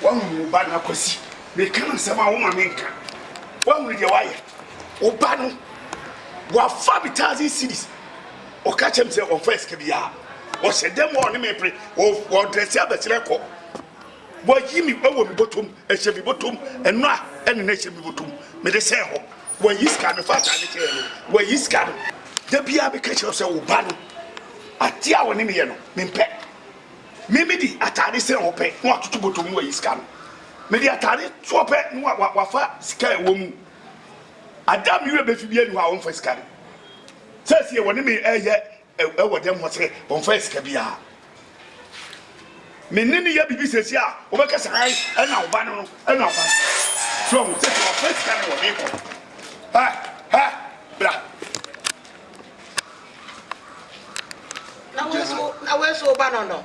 wahunu wo ba no akwasi meka asɛm a woma menka wahunu deɛ wayɛ wo ba no Ɔafa me thousand cedis, ɔka kyerɛ me sɛ ɔmfa sika biara, ɔhyɛ dam a ɔne me pere, ɔdrɛse abɛsrɛ kɔ, wayi me wɔ me bɔtɔm, ɛhyɛ me bɔtɔm, ɛno a ɛne no ɛhyɛ me bɔtɔm, mede sɛn hɔ, wayi sika no, fa ataade kyɛɛ no, wayi sika no. Da biara meka kyerɛ sɛ wo ba no, adeɛ a ɔne me yɛ no, mempɛ. Me mede ataade sɛn hɔ pɛ, na watoto bɔtɔm na wayi sika no. Mede ataade toɔ pɛ, na wafa sika a ɛwɔ mu. Ada a me werɛ befi biara nni hɔ a wɔmfa sika no. Seesei wɔne me reyɛ wɔ dɛm hɔ sɛ wɔmfa sika biara. Me ne no yɛ biribi seesei a wɔbɛka sɛ ae ɛna wo ba no no ɛna ɔba no. So wɔn sɛ wɔmfa sika no wɔ me kɔ. Ha ha bra. Na wei so wo ba no no.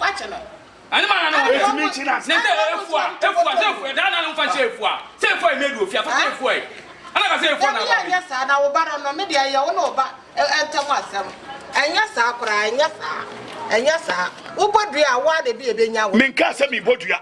Wakye no. Ɛne ma nano wɔbɛ. Ɛtumi kye na. Ne sɛ efua efua sɛ efua ɛdaa nano nfa nhyɛ efua sɛ efua yi mɛdu ofia so sɛ efua yi ɛna ka sɛ efua na aba bi. Dabi ɛnyɛ saa na wo ba no no ne deɛ ɛyɛ wo ne wo ba ɛntɛm asɛm ɛnyɛ saa koraa ɛnyɛ saa ɛnyɛ saa wo bɔ dua a wo ara na ebi ɛbɛnya wo. Menkaa sɛ mebɔ dua.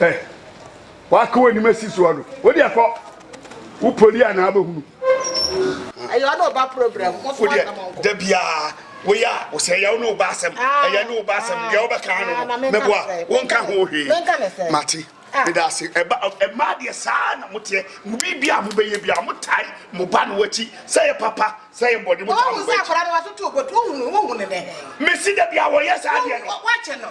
ɛ wakɔ w'anim asi soɔ no wode akɔ wo poli a na abɛhunu ɛyɛ ɔne ɔba program wodeɛ da biaa woyɛ a wo sɛ ɛyɛ wo ne wo ba asɛm ɛyɛ ne wo ba asɛm deɛ wobɛka no no meboa wonka ho hwee mate meda ase ɛma deɛ saa na moteɛ mo biribi a mobɛyɛ bia motae mo ba no wakyi sɛ yɛ papa sɛ yɛ bɔne motae mo ba akyi mesi da bia wɔyɛ saa deɛ no